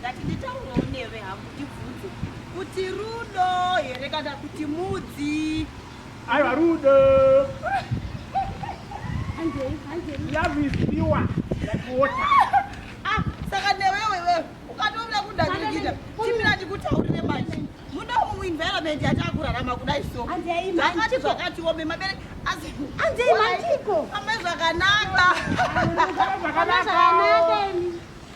ndatinditaurewo newe hangu ndibvunze kuti rudo here kana kuti mudzi aiwa rudo love is pure like water ah saka newewe wewe ukatoona kundadikita chimira ndikutaurire manje muda umu environment yatakurarama kudai so zvakati zvakati wome mabere asi anzei mantiko amai zvakanaka zvakanaka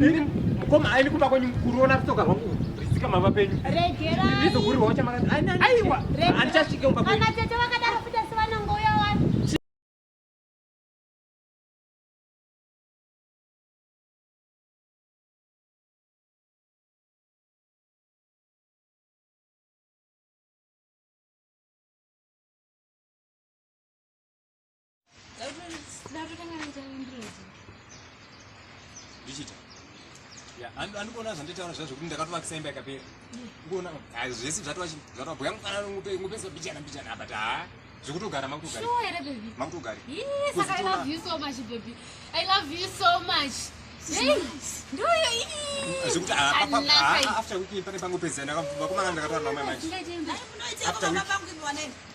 Ini mukoma aini kumba kwenyu kuruona rutoka rwangu rizika mava penyu. Regera. Ndizo kuri wacha maka. Aiwa. Andichashike kumba kwenyu. Kana tete vakadaro futa sivana ngoya wani. ndichita andikuona zvanditaura zva zvekuti ndakatovakisa imba yakapera ndikuona zvese zvatova zvatova bhuya mufana ngupesa bichana bichana apa ta zvekutogara makutogari makutogari zvekuti after week pane pangopedzana vakomana ndakataura namai manje after week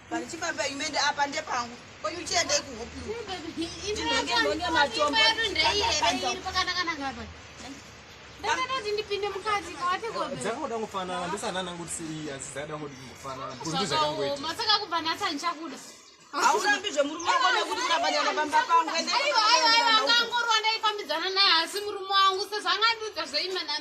Pane chifamba imi ende apa ndepangu. Kwenyu uchienda ikuhopi. Ndinenge ndonge matombo. Dzakakuda kufanana ndisana nangu kuti iyi asi dzakada kuti kufanana. Kuti zvakangoita. Masaka kubva nasa ndichakuda. Haurambi zvemurume wako nekuti kurabanyana pamba pangu. Aiwa aiwa aiwa angangorwa ndaifambidzana naye asi murume wangu sezvangandiudza zveimana.